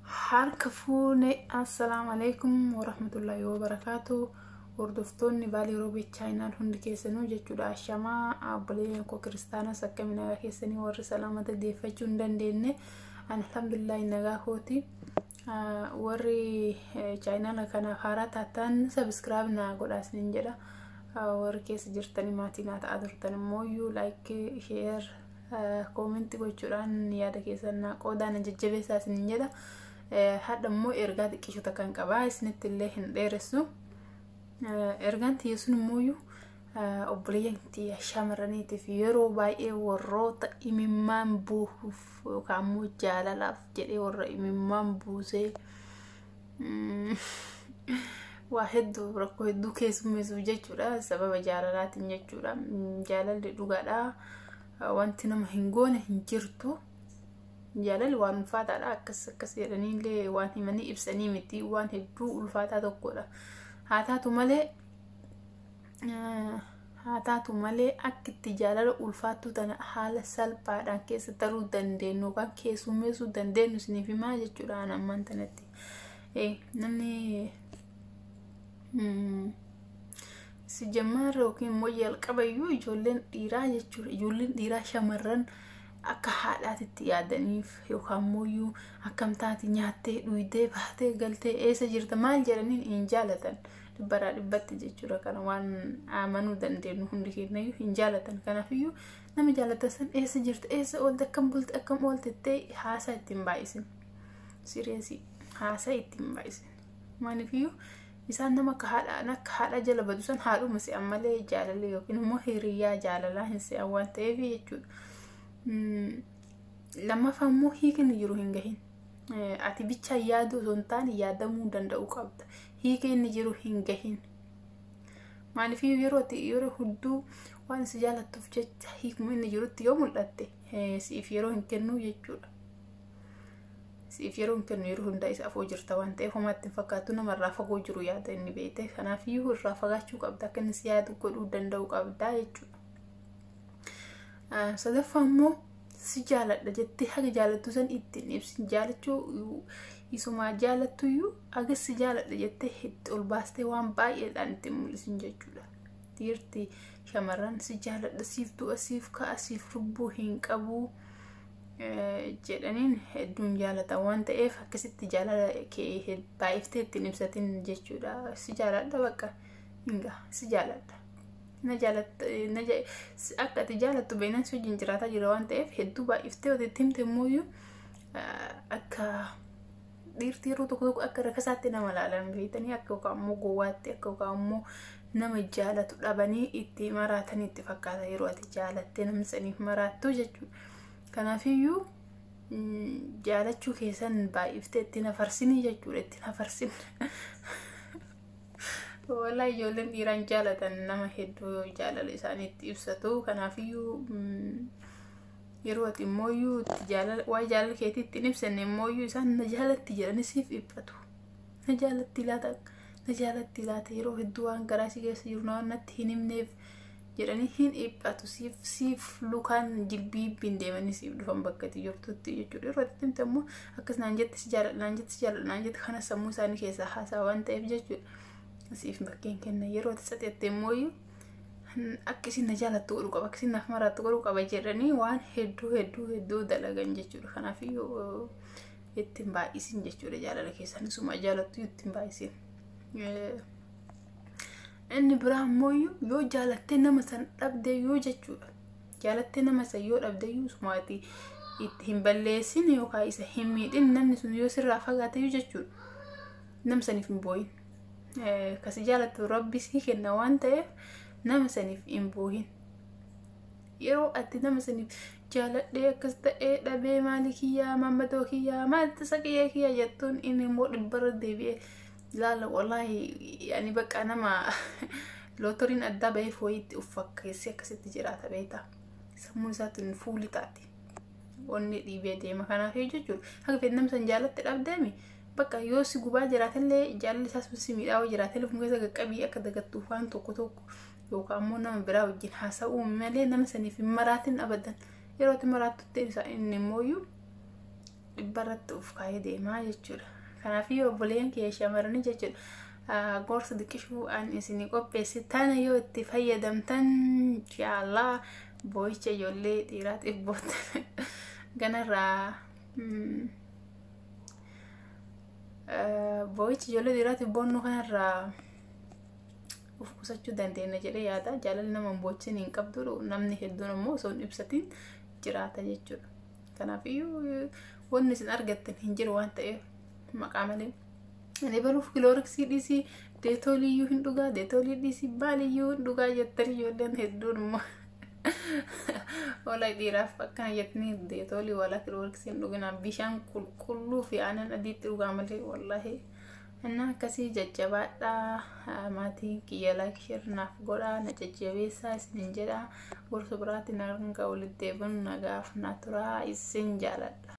harka fuune assalaamu alaikum warahmatullaahi wabarakaatu hordoftoonni baalii roobii chaayinaal hundi keessanuu jechuudha ashamaa abboleen koo kiristaanas akkami nagaa keessanii warri salaamata deeffachuu hin dandeenye alhamdulillahi nagaa kooti warri chaayinaala kanaaf haaraa taataan sabiskiraab naa godhaas nin jedha warri keessa jirtanii maatii naa ta'aa turtan immoo laayik sheer Koomentii gochuudhaan yaada keessan naa qoodaa na jajjabeessaa isinin jedha. Hadha immoo ergaa xiqqisho takkan qabaa isinitti illee hin dheeressu. Ergaan tiyya sun immoo obboleeyyan tiyya shamarraniitiif yeroo baay'ee warroota imimmaan buusuuf yookaan immoo jaalalaaf jedhee warra imimmaan buusee waa hedduu rakkoo hedduu keessummeessuuf jechuudha sababa jaalalaatiin jechuudha jaalalli dhugaadha wanti nama hin goone hin jirtu jaalalli waan ulfaataadha akkas akkas jedhaniillee waan himanii ibsanii miti waan hedduu ulfaataa tokkodha haa taatu malee haa taatu malee akka itti jaalala ulfaattuu tana haala salphaadhaan keessa taruu dandeenyu yookaan keessummeessuu dandeenyu isiniif himaa jechuudha an ammaan tanatti namni si jammaarra yookiin immoo jalqabayyuu ijoolleen dhiiraa jechuudha ijoolleen dhiiraa shamarran akka haadhaatitti yaadaniif yookaan immoo akkamtaati nyaattee dhuydee baatee galtee eessa jirta maal jedhaniin hin jaalatan dhibbaraa dhibbatti jechuudha kana waan amanuu dandeenyu hundi keenyayyuu hin jaalatan kanafiyyuu nama jaalatan san eessa jirta eessa oolte akkam bulte akkam oolte ta'e haasaa ittiin baay'isin sireesii haasaa ittiin baay'isin maaliifiyyuu isaan nama akka haadhaan akka haadhaa jala badu san haadhuma se'an malee jaalala yookiin immoo hiriyaa jaalalaa hin se'an waan ta'eef jechuudha. Lammaffaa immoo hiikni jiru hin gahin. Ati bichaa yaaduu osoo hin taane yaadamuu danda'uu qabda. hiika inni jiru hin gahin. Maaliif yeroo ati yeroo hudduu waan si jaalattuuf jecha hiikuma inni jirutti yoo mul'atte siif yeroo hin kennuu jechuudha. Siif yeroo hin kennu yeroo hundaa isa afoo jirta waan ta'eef homaatti hin fakkaatu namarraa fagoo jiru yaada inni beekte kanaaf iyyuu irraa fagaachuu qabda akka inni si yaadu godhuu danda'u qabda jechuudha. Sadaffaa immoo si jaaladha jettee haga jaalattu san itti hin ibsin jaalachuu isumaa jaalattuyyuu haga si jaaladha jettee itti ol baastee waan baay'eedhaan itti mul'isin jechuudha. Dhiirti shamarran si jaaladha siif du'a siif ka'a siif lubbuu hin qabu jedhaniin hedduun jaalata waan ta'eef akkasitti jaalala kee baay'iftee ittiin ibsatin jechuudha. Si jaaladha bakka hinga si jaaladha. na jaalatta na ja- si- akka ati jaalattu beenan si wajjin jiraataa jira waan ta'eef hedduu baay'iftee yoo itti himte immoo iyyuu akka dhiirti yeroo tokko tokko akka rakasaatti nama ilaalan beektanii akka yookaan immoo gowwaatti akka yookaan immoo nama jaalatu dhabanii itti maraatan itti fakkaata yeroo ati jaalattee namni saniif maraattu jechuudha. Kanaafiyyuu mm, jaalachuu keessan baay'iftee itti nafarsinii jechuudha itti nafarsin. Walaa ijoolleen dhiiraan jaalatan nama hedduu jaalala isaaniitti ibsatu. Kanaafiyyuu yeroo ati immooyyuu itti jaalala waa'ee jaalala keetii itti hin ibsanne immooyyuu isaan na jaalatti jedhanii siif dhiphatu. Na jaalatti laata na jaalatti laata yeroo hedduu waan garaa si keessa jiru natti hin himneef jedhanii hin dhiphatu siif siif lukaan jilbiibbiin deemanii siif dhufan bakka itti jirtutti jechuudha yeroo itti himte immoo akkas naan jette si jaaladha naan jette si jaaladha naan jette kana sammuu isaanii keessaa haasaa waan ta'eef jechuudha siif bakkeen kenna yeroo itti saxeette immoo akka isin na jaalattu godhu qaba akka isin naaf maraattu godhu qaba jedhanii waan hedduu hedduu hedduu dalagan jechuudha kanaaf ittiin baay'isin jechuudha jaalala keessan isuma jaalattu ittiin baay'isin. Inni biraa immoo yoo jaalattee nama san dhabde yoo jechuudha. Jaalattee nama san yoo dhabde yoo sumaati itti hin balleessin yookaan isa hin miidhin namni sun yoo sirraa fagaate yoo jechuudha. Nama saniif hin booyin. Kasi jaalatu rabbi sii kenna waan ta'eef nama saniif hin booyin. Yeroo ati nama saniif jaaladhee akkas ta'ee dhabee maali kiyyaa maammadoo kiyyaa maalti isa kiyyaa kiyyaa jettuun inni immoo dhibbarra deebi'ee laala wallaahi yani bakka nama lootoriin addaa bahee fooyitti of fakkeessee akkasitti jiraata beektaa sammuu isaatiin fuuli taate onnee dhiibee deema kanaaf jechuudha haga fedhe namni san jaalatti dhabdeemi bakka yoo si gubaa jiraatillee jaalalli isaa sun si miidhaa yoo jiraatillee fuula keessa qaqqabii akka dagattuuf waan tokko tokko yookaan ammoo nama biraa wajjin haasa'uu malee nama saniif hin maraatin abadan yeroo itti maraattutti inni immoo dhibba irratti of kaayee deemaa jechuudha. Kanaaf yoo obboleen kee shamarranii jechuudha gorsa xiqqishuu an isin qopheesse tana yoo itti fayyadamtan inshaallah boo'icha ijoollee dhiiraatiif boottan ganarraa boo'icha ijoollee dhiiraatiif boonnu kanarraa of qusachuu dandeenya jedhee yaada jaalalli nama hin boochin hin qabdu namni hedduun ammoo osoo hin ibsatiin jiraata jechuudha. Kanaaf iyyuu wanni isin argattan hin jiru waan ta'eef maqaa malee. Ani baruuf kilooriksii dhiisii deetoolii iyyuu hin dhugaa deetoolii dhiisii baali iyyuu hin dhugaa jettan ijoolleen hedduun immoo. Ola dhiiraaf akkana jettanii deetoolii wala kilooriksii hin dhuginaa bishaan qulqulluu fi aanan adiitti dhugaa malee wallaahi Innaa akkasii jajjabaadhaa maatii kiyya like share naaf godhaa na jajjabeessaa isinin jedha gorsa biraatiin hanga walitti deebinu nagaaf na turaa isin jaaladha.